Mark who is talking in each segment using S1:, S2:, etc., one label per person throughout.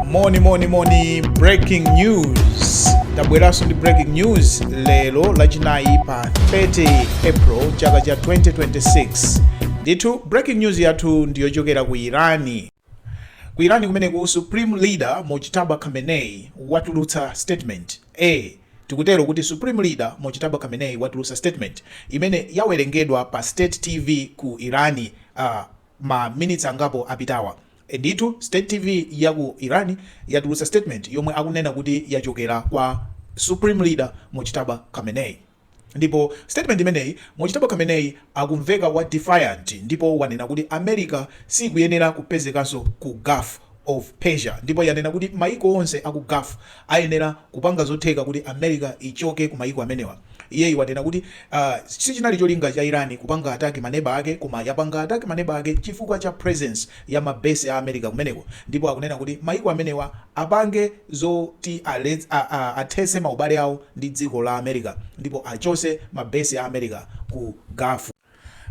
S1: moni moni moni breaking news tabweranso ndi breaking news lero lachinayi pa 30 april chaka cha 2026 ndithu breaking news yathu ndiyochokera ku irani ku irani kumeneku supreme leader mojtaba khamenei watulutsa statement a tikutero kuti supreme leader mojtaba khamenei watulutsa statement imene yawerengedwa pa state tv ku irani uh, ma minutes angapo apitawa ndithu state tv ya ku Iran yatulutsa statement yomwe akunena kuti yachokera kwa supreme leader Mojtaba Khamenei ndipo statement imeneyi Mojtaba Khamenei akumveka wa defiant ndipo wanena kuti America siikuyenera kupezekanso ku Gulf of Persia ndipo yanena kuti mayiko onse aku Gulf ayenera kupanga zotheka kuti America ichoke ku mayiko amenewa. Iyeyi wanena kuti uh sichinali cholinga cha Iran kupanga attack ma neba ake koma yapanga attack ma neba ake chifukwa cha presence ya ma base a America kumeneko ndipo akunena kuti mayiko amenewa apange zoti alets uh uh athese maubale awo ndi dziko la America ndipo achose ma base a America ku Gulf.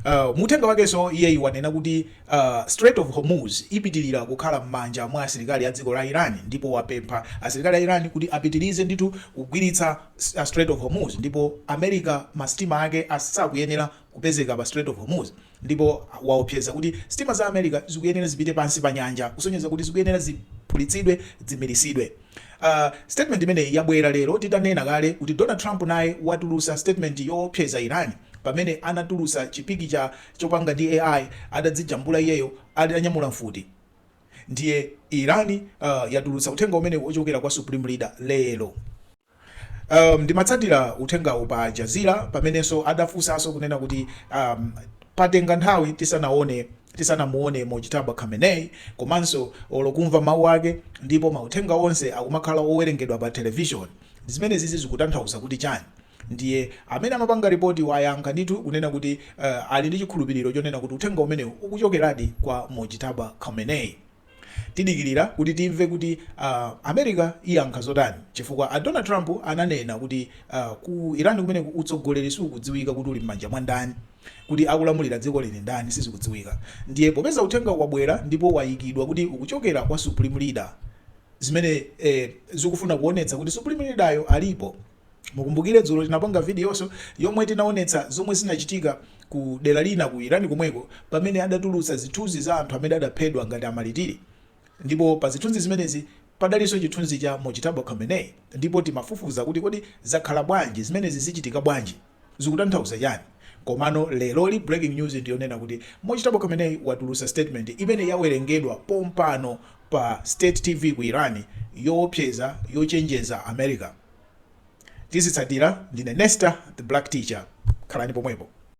S1: Uh, mu uthenga wakenso iyeyi wanena kuti uh, Strait of Hormuz ipitilira kukhala m'manja mwa asilikali a dziko la Iran ndipo wapempha asilikali a Iran kuti apitilize ndithu kugwiritsa uh, Strait of Hormuz ndipo America masitima ake asakuyenera kupezeka pa Strait of Hormuz ndipo waopseza kuti sitima za America zikuyenera zipite pansi pa nyanja kusonyeza kuti zikuyenera ziphulitsidwe, zimiritsidwe. A statement imeneyi yabwela lero tidanena kale kuti Donald Trump naye watulusa statement yoopseza Iran pamene anatulusa chi pikicha chopanga ndi AI adadzijambula iyeyo atanyamula mfuti ndiye Iran yatulusa uthenga umenewu wochokela kwa supreme leader lero. um ndimatsatira uthengawu pa Aljazeera pamenenso adafunsanso kunena kuti um patenga nthawi tisanaone tisanamuone Mojtaba Khamenei komanso olo kumva mawu ake ndipo mauthenga onse akumakhala owerengedwa pa television zimenezizi zikutanthauza kuti chani ndiye amene amapanga ripoti wayankha ndithu kunena kuti uh ali ndi chikhulupiliro chonena kuti uthenga umenewu ukuchokeradi kwa Mojtaba Khamenei. Tidikilira kuti timve kuti a America iyankha zotani chifukwa a Donald Trump ananena kuti ku Iran kumeneku utsogoleri siukudziwika kuti uli mmanja mwa ndani kuti akulamulira dzikoli ndi ndani sizikudziwika ndiye popeza uthengawu wabwera ndipo wayikidwa kuti ukuchokera kwa supreme leader zimene zikufuna kuonetsa kuti supreme leader yo alipo Mukumbukile dzulo tinapanga videonso yomwe tinaonetsa zomwe zinachitika ku dera lina ku Iran komweko pamene adatulutsa zithunzi za anthu amene adaphedwa ngati amalitiri ndipo pa zithunzi zimenezi padalinso chithunzi cha Mojtaba Khamenei ndipo timafufuza kuti kodi zakhala bwanji zimenezi zichitika bwanji? zikutanthauza chani komano lero li breaking news ndiyonena kuti mojtaba khamenei watulutsa statement imene yawerengedwa pompano pa state tv ku iran yoopseza yochenjeza america tizitsatira ndine nesta the black teacher khalani pomwepo.